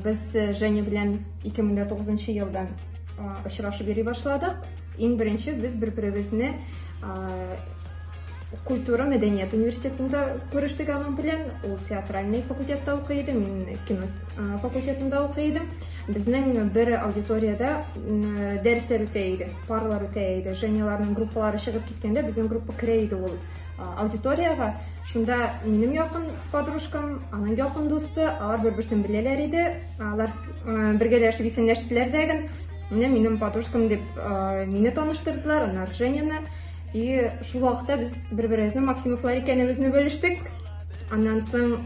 Без э, Женя белән 2009 елдан очрашып йөри башладык. Иң беренче без бер-беребезне культура мәдәният университетында күрештек аның белән. Ул театральный факультетта укый иде, мин кино факультетында укый идем. Безнең бер аудиториядә дәресләр үтә иде, парлар үтә иде. Женяларның группалары чыгып киткәндә безнең группа керә иде ул аудиториягә. Шунда минем якын подружкам, аның якын дусты, алар бер-берсен беләләр иде. Алар бергәләшеп исәнләштеләр дә гел. Менә минем подружкам дип мине таныштырдылар, аннары Женяны. И шул вакытта без бер-беребезнең Максимовлар икәнебезне белештек. Аннан соң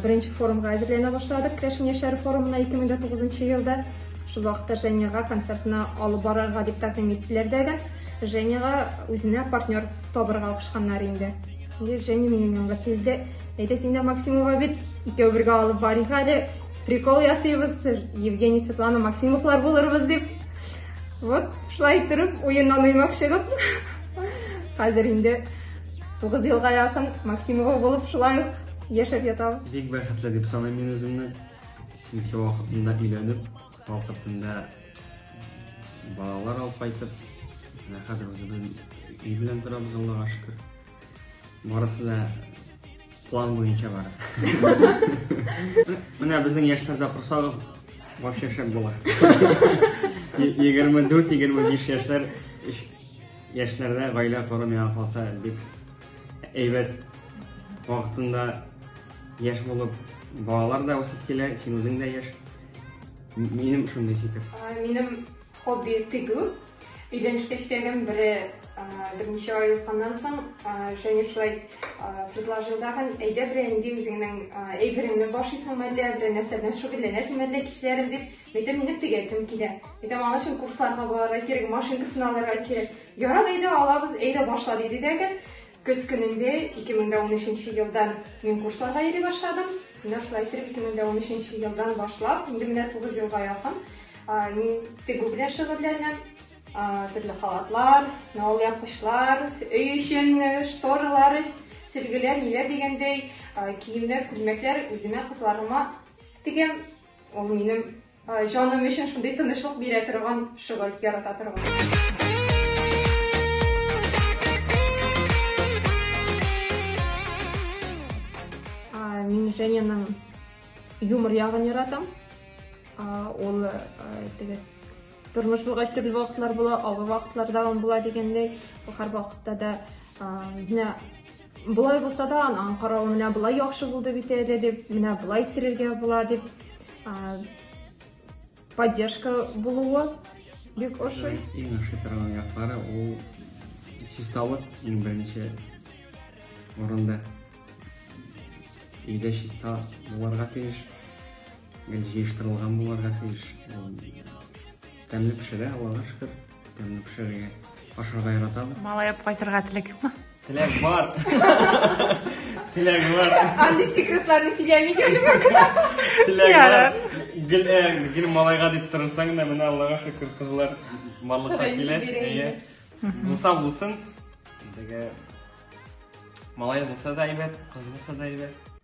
Беренче форумга әзерләнә башладык, Крәшен яшьләре форумына 2009 елда. Шул вакытта Женяга концертны алып барырга дип тәкъдим иттеләр дәгә. Женяга үзенә партнер табырга кушканнар инде. Женя минем янга килде. Әйдә син дә Максимова бит, икәү бергә алып барыйк әле. Прикол ясыйбыз, Евгений, Светлана, Максимовлар булырбыз дип. Вот, шулай торып, уеннан уймак чыгып. Хәзер инде Тугыз елга якын Максимова булып шулай ук яшәп ятабыз. Бик бәхетле дип саныйм мин үземне. Чөнки вакытында өйләнеп, вакытында балалар алып кайтып, менә хәзер үзебез өй белән торабыз, Аллага шөкер. Барысы да план буенча бара. Менә безнең яшьләрдә курсагыз вообще шәп була. 24-25 яшьләр Яшьләрдә гаилә кору миңа калса бик әйбәт. Вакытында яшь булып, балалар да үсеп килә, син үзең дә яшь. Минем шундый фикер. Минем хобби тегү. Өйдән эшләгән бере берничә ай узганнан соң Женя шулай предложил тагын, әйдә бер инде үзеңнең әйбереңне башыйсың мәллә, бер нәрсә белән шөгыльләнәсең мәллә кичләрен дип. Әйтәм, минем тегәсем килә. Әйтәм, аның өчен курсларга барырга кирәк, машинкасын алырга кирәк. Ярар, әйдә алабыз, әйдә башла диде дәге. Көз көнендә 2013 елдан мин курсларга йөри башладым. Менә шулай итеп 2013 елдан башлап, инде менә 9 елга якын мин тегү белән шөгыльләнәм. Төрле халатлар, навал япкычлар, өй өчен шторалар, сөлгеләр, ниләр дигәндәй, киемнәр, күлмәкләр үземә, кызларыма тегәм. Ул минем җаным өчен шундый тынычлык бирә торган шөгыль, ярата торган. Мин Женяның юмор ягын яратам. Ул теге тормыш булгач төрле вакытлар була, авыр вакытлар да була дигәндәй, һәр вакытта да менә Болай булса да, анаң каравы менә болай яхшы булды бит әле дип, менә болай иттерергә була дип поддержка булуы бик ошый. Иң ошый торган яклары ул чисталык иң беренче орында. Өйдә чиста булырга тиеш, гел җыештырылган булырга тиеш. Тәмле пешерә, Аллага шөкер. Тәмле пешерергә, ашарга яратабыз. Малаеп кайтырга теләк юкмы? Теләк бар. Теләк бар. Андый секретларны сөйләми генә мөмкин. Теләк бар. Гел э, гел малайга дип торсаң да, менә Аллага шөкер, кызлар барлыкка килә. Әйе. Булса булсын. Дигә. Малай булса да әйбәт, кыз булса да әйбәт.